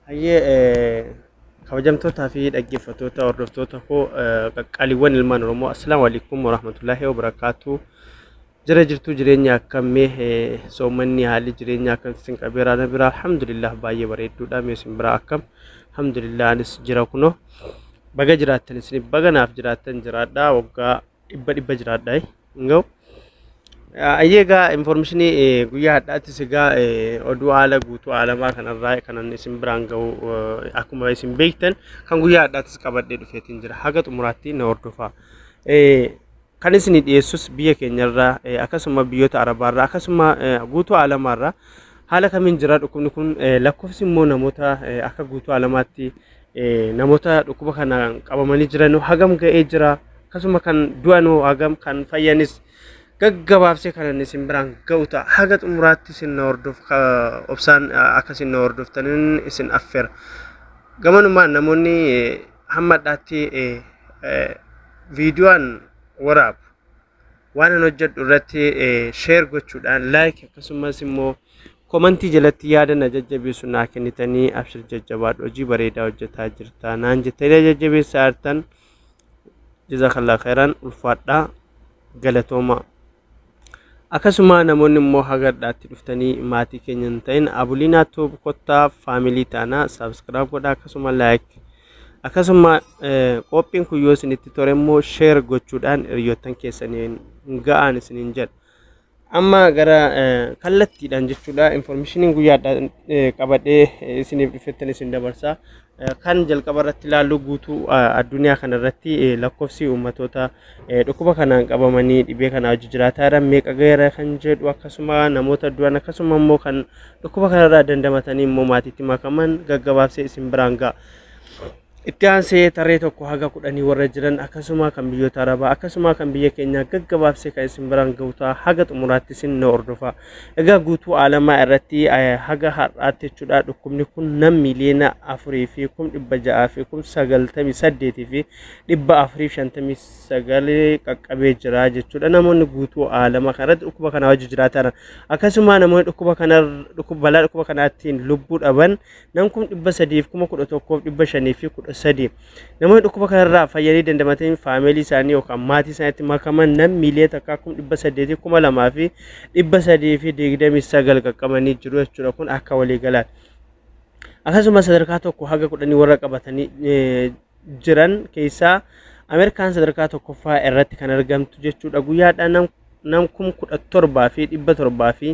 Hayyee kabajamtootaa fi dhaggeeffattoota hordoftoota koo qaqqaaliiwwan ilmaan Oromoo assalaamu alaikum warahmatullaahi wabarakaatu. Jira jirtuu jireenya akkam mee eh, soomanni haalli jireenya akkam isin qabeera na bira alhamdulillah baay'ee bareedduudha mee isin bira akkam alhamdulillah anis jira kunoo baga jiraattan isin baga naaf jiraattan jiraadha waggaa dhibba dhibba jiraadha eh. Nga'u. Ah, Ayyee egaa informeeshinii eh, guyyaa hadhaattis egaa eh, oduu haala guutuu aalamaa kanarraa kanan isin biraan ga'u eh, akkuma isin beektan kan guyyaa hadhaattis qabadhee dhufeetiin jira haga xumuraatti na hordofaa. Eh, Kan isinii dhiyeessus biyya keenyarraa akkasuma biyyoota arabaarraa akkasuma guutuu alamaarraa haala kamiin jira dhukkubni kun lakkoofsi immoo namoota akka guutuu alamaatti namoota dhukkuba kanaan qabamanii jiran hagam ga'ee jira akkasuma kan du'an hagam kan fayyanis gaggabaabsee kanan isin biraan ga'u ta'a haga xumuraatti isin na hordof obsaan akka isin na hordoftanin isin affeera gamanumaan namoonni hamma addaatti viidiyoon waraabu waan an hojjedhu irratti sheer gochuudhaan laayik akkasumas immoo komantii jalatti yaada na jajjabeessu naa kennitanii abshir jajjabaadhu hojii bareedaa hojjetaa jirta naan jettanii jajjabeessa artan jazakallah khairan ulfaadhaa galatooma Akkasumaa namoonni immoo haga dhadhaatti dhuftanii maatii keenya hin ta'in Abuliinaa Tuub kottaa faamilii taana subscribe godha akkasuma like akkasuma qophiin kun yoo isinitti tore immoo share gochuudhaan hiriyoottan keessaniin ga'aan isiniin jedha. Amma gara kallattiidhaan jechuudha informationiin guyyaadhaan qabadhee isiniif dhufettan isin dabarsa. Kan jalqaba irratti ilaallu guutuu addunyaa kana irratti lakkoofsi uummatoota dhukkuba kanaan qabamanii dhibee kanaa hojii jiraataa jiran meeqa gaheera kan jedhu akkasuma namoota du'an akkasuma immoo kan dhukkuba kanarraa dandamatanii immoo maatiitti makaman gaggabaabsee isin biraan ga'a. Itti aansee tarree tokko haga kudhanii warra jiran akkasuma kan biyyoota arabaa akkasuma kan biyya keenyaa gaggabaabsee kan isin biraan gahu ta'a haga xumuraatti isin na hordofa. Egaa guutuu aalamaa irratti haga har'aatti jechuudha dhukkubni kun nam miliyoona afurii fi kum dhibba ja'aa fi kum sagaltamii saddeetii fi dhibba afurii fi shantamii sagalee qaqqabee jira jechuudha namoonni guutuu aalama kanarratti dhukkuba kana wajji jiraatan akkasuma namoonni dhukkuba kana balaa dhukkuba kanaattiin lubbuu dhaban nam kum dhibba sadiif kuma kudha tokkoof dhibba shanii fi kudha sadii Namoonni dhukkuba kanarraa fayyanii dandamatanii faameelii isaanii yookaan maatii isaaniitti makaman nam miiliyoona takkaa kum dhibba saddeetii kuma lamaa fi dhibba sadii fi digdamii sagal qaqqabanii jiru jechuudha kun akka waliigalaan. Akkasumas sadarkaa tokko haga kudhanii warra qabatanii eh, jiran keessaa Ameerikaan sadarkaa tokkoffaa irratti kan argamtu jechuudha guyyaadhaan nam nam kum kudha torbaa fi dhibba torbaa fi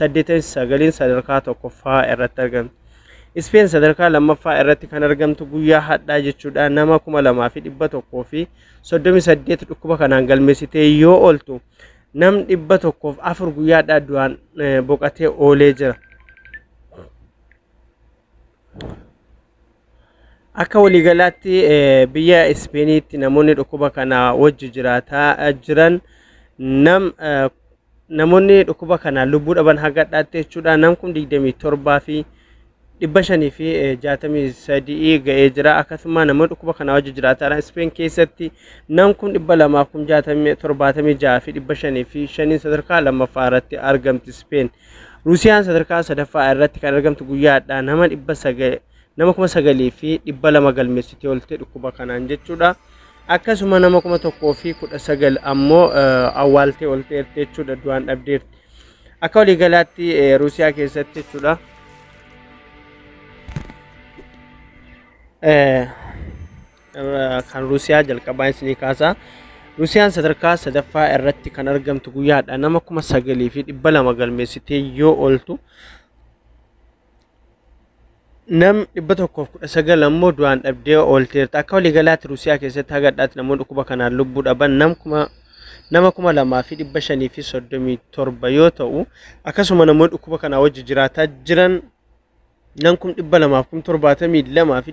89n sadarkaa tokkoffaa irratti argamti. Ispeen sadarkaa lammaffaa irratti kan argamtu guyyaa hadhaa jechuudha nama 2138 dhukkuba kanaan galmeessitee yoo ooltu nam 104 guyyaa hadhaa du'aan eh, boqatee oolee jira. Akka waliigalaatti eh, biyya Ispeeniitti namoonni dhukkuba kana wajji jiraataa eh, jiran nam eh, Namoonni dhukkuba kanaan lubbuu dhaban hanga har'aatti jechuudha nam kum 27 fi 563 ga'ee jira. Akkasuma namoonni dhukkuba kanaa wajji jiraatan Ispeen keessatti nam kum 276 fi 505 sadarkaa lammaffaa irratti argamti Ispeen. Ruusiyaan sadarkaa sadaffaa irratti kan argamtu guyyaadha nama 900 nama kuma sagalii fi dhibba lama galmeessitee oolte dhukkuba kanaan jechuudha. Akkasuma nama kuma tokkoo fi kudha sagal ammoo awwaaltee oolteerti jechuudha du'aan dhabdeerti. Akka waliigalaatti Ruusiyaa keessatti jechuudha. Kan Ruusiyaa jalqabaa isinii kaasaa. Ruusiyaan sadarkaa sadaffaa irratti kan argamtu guyyaadha. Nama kuma sagalii fi dhibba lama galmeessitee yoo ooltu nam 119 ammoo du'aan dhabdee oolteerti. Akka waliigalaatti Ruusiyaa keessatti haga har'aatti namoonni dhukkuba kanaan lubbuu dhaban nam kuma nama 2537 yoo ta'u akkasuma namoonni dhukkuba kanaa wajji jiraataa jiran nam kum 272 fi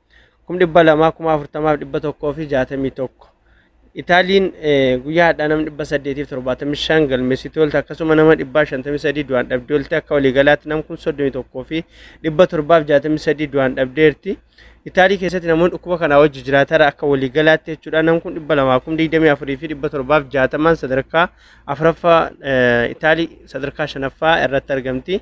kum dhibba lamaa kuma afurtamaaf dhibba tokkoo fi jaatamii tokko. Itaaliin guyyaa hadhaa nama dhibba saddeetiif torbaatamii shan galmeessitu oolte akkasuma nama dhibbaa shantamii sadii du'aan dhabdee oolte akka waliigalaatti nam kun soddomii tokkoo fi dhibba torbaaf jaatamii sadii du'aan dhabdeerti. Itaalii keessatti namoonni dhukkuba kanaa wajji jiraatara akka waliigalaatti jechuudha nam kun dhibba lamaa kum digdamii afurii fi dhibba torbaaf jaatamaan sadarkaa afuraffaa Itaalii sadarkaa shanaffaa irratti argamti.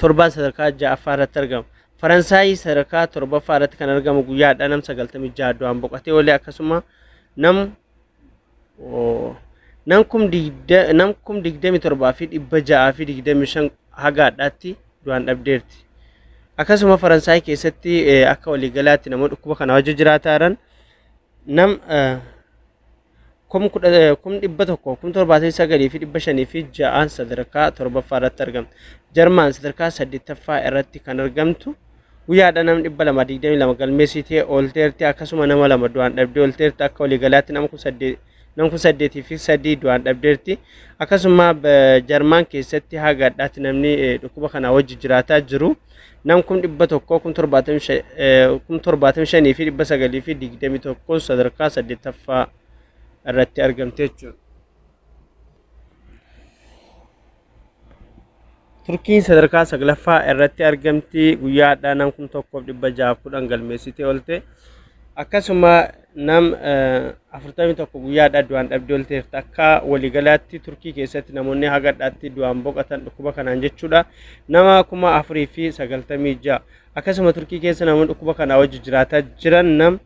torbaan sadarkaa ja'affaa irratti argama. Faransaayii sadarkaa torbaffaa irratti kan argamu guyyaa hadhaa nam 96 du'aan boqatee olee akkasuma nam nam kum digda nam kum digdami torbaa fi dhibba ja'aa fi digdami shan haga hadhaatti du'aan dhabdeerti. Akkasuma Faransaay keessatti akka waliigalaatti namoota dhukkuba kana wajjin jiraataa jiran nam kum kudha eh, kum dhibba tokko kum torbaatamii sagalii fi dhibba shanii fi ja'aan sadarkaa torbaffaa irratti argamtu. Jarmaan sadarkaa saddeettaffaa irratti kan argamtu guyyaadha nama dhibba lama digdamii lama galmeessitee oolteerti akkasuma nama lama du'aan dhabdee oolteerti akka waliigalaatti nama kun saddeet nama kun saddeetii fi sadii du'aan dhabdeerti akkasuma ba- jarmaan keessatti haga addaatti namni eh, dhukkuba kanaa wajji jiraataa jiru nam kum dhibba tokkoo kum torbaatamii shan eh, kum torbaatamii shanii fi dhibba sagalii fi digdamii tokkoon sadarkaa saddeettaffaa irratti argamte jechuudha. Turkiin sadarkaa saglaffaa irratti argamti guyyaa hadhaa nam kum tokkoof dhibba jahaaf kudhan galmeessitee oolte akkasuma Nam 41 guyyaadhaa du'aan dhabdee olteerti. Akka waliigalaatti Turkii keessatti namoonni hagadhaatti du'aan boqatan dhukkuba kanaan jechuudha. Nama 4096. Akkasuma Turkii keessa namoonni dhukkuba kanaa wajji jiraataa jiran nam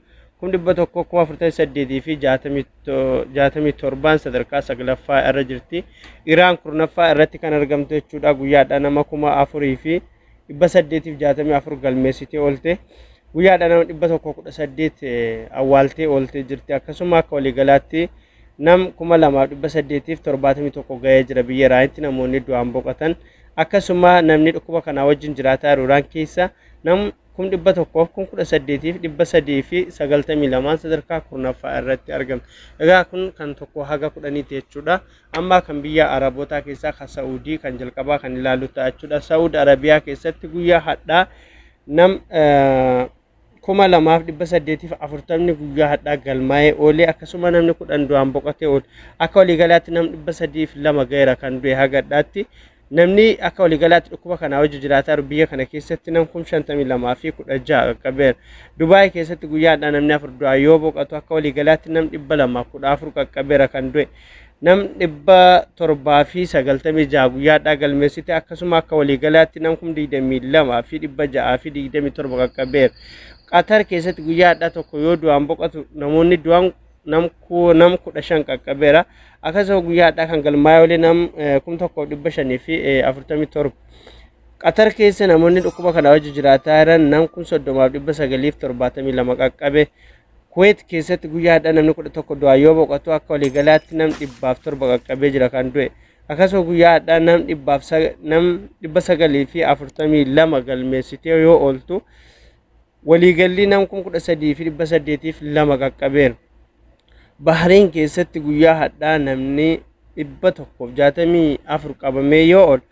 148 fi 67 sadarkaa saglaffaa irra jirti. Iraan kurnaffaa irratti kan argamtu jechuudha. Guyyaadhaa nama 4000 fi 864 galmeessitee oolte. Guyyaadha nama 118 awwaaltee oolte jirti. Akkasuma akka waliigalaatti nam 2871 ga'ee jira biyya Iraanitti namoonni du'aan boqotan. Akkasuma namni dhukkuba kanaa wajjin jiraataa jiru Iraan keessa nam 118,392 sadarkaa kurnaffaa irratti argama. Egaa kun kan tokko haga kudhaniiti jechuudha. Ammaa kan biyyaa Arabootaa keessaa ka Sa'uudii kan jalqabaa kan ilaallu ta'a jechuudha. Sa'uud Arabiyaa keessatti guyyaa hadhaa nam kuma lamaaf dhibba saddeetiif afurtamni guyyaa hadhaa galmaa'ee oolee akkasuma namni kudhan du'aan boqotee oole. Akka waliigalaatti nam dhibba sadiif lama ga'eera kan du'e hagadhaatti. Namni akka waliigalaatti dhukkuba kanaa wajji jiraataa jiru biyya kana keessatti nam kum 52 fi 16 qaqqabeera. Dubaay keessatti guyyaadhaa namni afur du'aa yoo boqatu akka waliigalaatti nam 214 qaqqabeera kan du'e. Nam 796 guyyaadhaa galmeessite akkasuma akka waliigalaatti nam kum 22 fi 627 qaqqabeera. Qatar keessatti guyyaadhaa tokko yoo du'aan boqatu namoonni du'an nam ku- nam kudha shan qaqqabeera. Akkasuma guyyaa har'aa kan galmaa'ee olee nam eh, kum tokkoof dhibba shanii fi eh, afurtamii torba. Qatar keessa namoonni dhukkuba kana wajji jiraataa jiran nam kun soddomaaf dhibba sagaliif torbaatamii lama qaqqabe. Kuweet keessatti guyyaa har'aa namni kudha tokko du'aa yoo boqotu akka waliigalaatti nam dhibbaaf torba qaqqabee jira kan du'e. Akkasuma guyyaa har'aa nam dhibbaaf sa- nam dhibba sagalii fi afurtamii lama galmeessitee yoo ooltu waliigallii nam kum kudha sadii fi dhibba saddeetiif lama qaqqabeera. Bahariin keessatti guyyaa hadhaa namni dhibba tokkoof jaatamii afur qabamee yoo oolu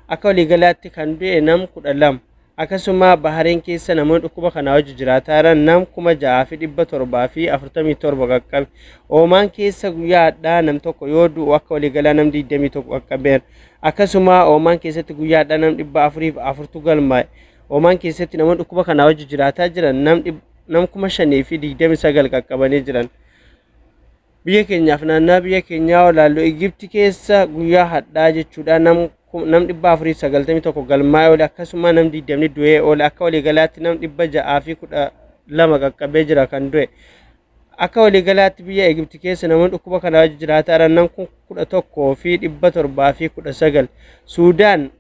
akka waliigalaatti kan du'e nam kudha lama. Akkasuma Bahariin keessa namoonni dhukkuba kanaa wajji jiraataa jiran nam kuma ja'aa fi dhibba torbaa fi afurtamii torba qaqqabe. Oomaan keessa guyyaa hadhaa nam tokko yoo du'u akka waliigalaa nam digdamii tokko qaqqabeera. Akkasuma Oomaan keessatti guyyaa hadhaa nam dhibba afuriif afurtu galmaa'e. Omaan keessatti namoonni dhukkuba kanaa wajji jiraataa jiran nam dhib- nam kuma shanii fi digdami sagal qaqqabanii jiran. Biyya keenyaaf naannaa biyya keenyaa olaallu Igibti keessa guyyaa hadhaa jechuudha nam ku- nam dhibba afurii fi sagaltamii tokko galmaa'ee oole akkasuma nam digdamni du'ee oole akka waliigalaatti nam dhibba ja'aa fi kudha lama qaqqabee jira kan du'e. Akka waliigalaatti biyya Igibti keessa namoonni dhukkuba kanaa wajji jiraataa jiran nam kun kudha tokkoo fi dhibba torbaa fi kudha sagal. Suudaan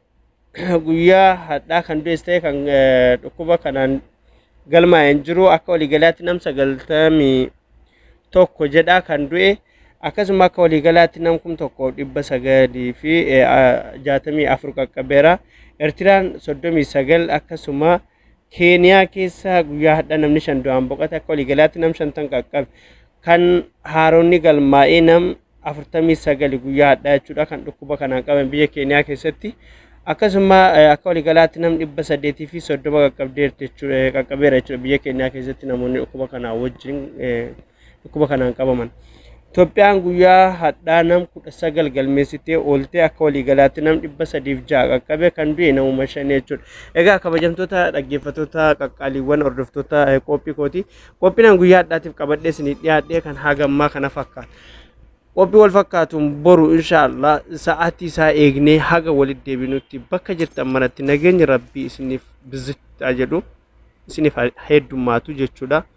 guyyaa hadhaa kan du'es ta'e kan eh, dhukkuba kanaan galmaa'een jiru akka waliigalaatti nam sagaltamii tokko jedha kan du'e akkasuma akka waliigalaatti nam kum tokko dhibba sagalii fi eh, ah, jaatamii afur qaqqabeera. Ertiraan soddomii sagal akkasuma Keeniyaa keessa guyyaa hadha namni shan du'aan boqate akka waliigalaatti nam shantan qaqqabe. Kan haaronni galmaa'ee nam 49 guyyaa hadhaa jechuudha kan dhukkuba kanaan qaban biyya Keeniyaa keessatti. Akkasuma akka waliigalaatti nam 830 qaqqabdeerti jechuudha qaqqabeera jechuudha biyya Keeniyaa keessatti namoonni dhukkuba kanaa wajjin dhukkuba kanaan qabaman. Itoophiyaan guyyaa hadhaa nam kudha sagal galmeessitee ooltee akka waliigalaatti nam dhibba sadiif ja'a qaqqabe kan du'e namuma shan jechuudha. Egaa kabajamtoota dhaggeeffattoota qaqqaaliiwwan hordoftoota eh, qophii kooti. Qophiin guyyaa hadhaatiif qabadhee isinii dhiyaadhee kan hagammaa kana fakkaata. Qophii wal fakkaatuun boru inshaallah sa'aatii isaa eegnee haga walitti deebinutti bakka jirtan manatti nageenyi rabbii isiniif bizitti jedhu isiniif heddummaatu jechuudha.